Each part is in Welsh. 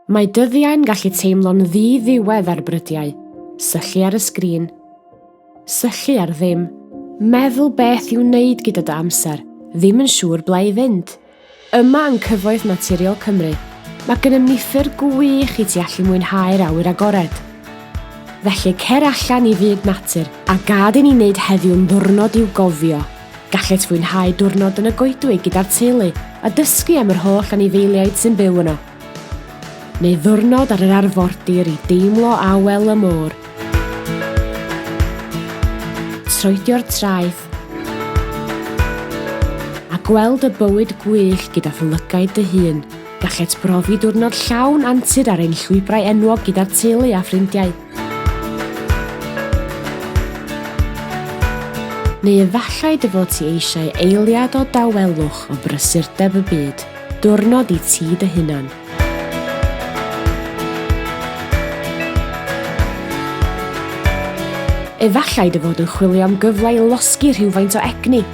Mae dyddiau'n gallu teimlo'n ddi-ddiwedd ar brydiau. Syllu ar y sgrin. Syllu ar ddim. Meddwl beth i'w wneud gyda dy amser. Ddim yn siŵr ble i fynd. Yma yng Cyfoeth Naturiol Cymru, mae gennym ni ffyrdd gwych i ti allu mwynhau'r awyr agored. Felly cer allan i fyd natur a gad i ni wneud heddiw'n ddiwrnod i'w gofio! Gallet fwynhau diwrnod yn y goedwig gyda'r teulu a dysgu am yr holl anifeiliaid sy'n byw yno. Neu ddiwrnod ar yr arfordir i deimlo awel y môr. Troedio'r traeth a gweld y bywyd gwych gyda'th lygaid dy hun. Gallet brofi diwrnod llawn antur ar ein llwybrau enwog gyda'r teulu a ffrindiau. Neu efallai dy fod ti eisiau eiliad o dawelwch o brysurdeb y byd, diwrnod i ti dy hunan. Efallai dy fod yn chwilio am gyfle i losgi rhywfaint o egni.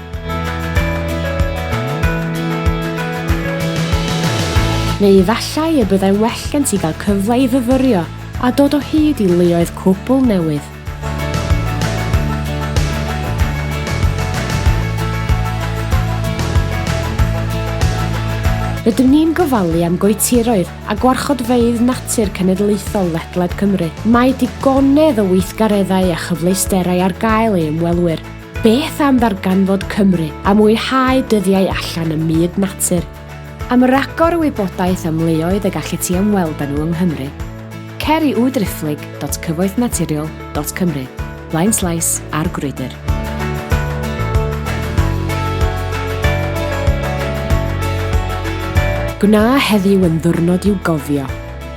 Neu efallai y byddai'n well gen ti gael cyfle i fyfyrio a dod o hyd i leoedd cwbl newydd. Rydym ni'n gofalu am goetiroedd a gwarchodfeydd natur cenedlaethol ledled Cymru. Mae digonedd o weithgareddau a chyfleusterau ar gael i ymwelwyr. Beth am ddarganfod Cymru a mwynhau dyddiau allan ym myd natur? Am ragor o wybodaeth am leoedd y gallet ti ymweld â nhw yng Nghymru, cer i www.cyfoethnaturiol.cymru, blaenslais ar Grwydr. Gwna heddiw yn ddiwrnod i'w gofio!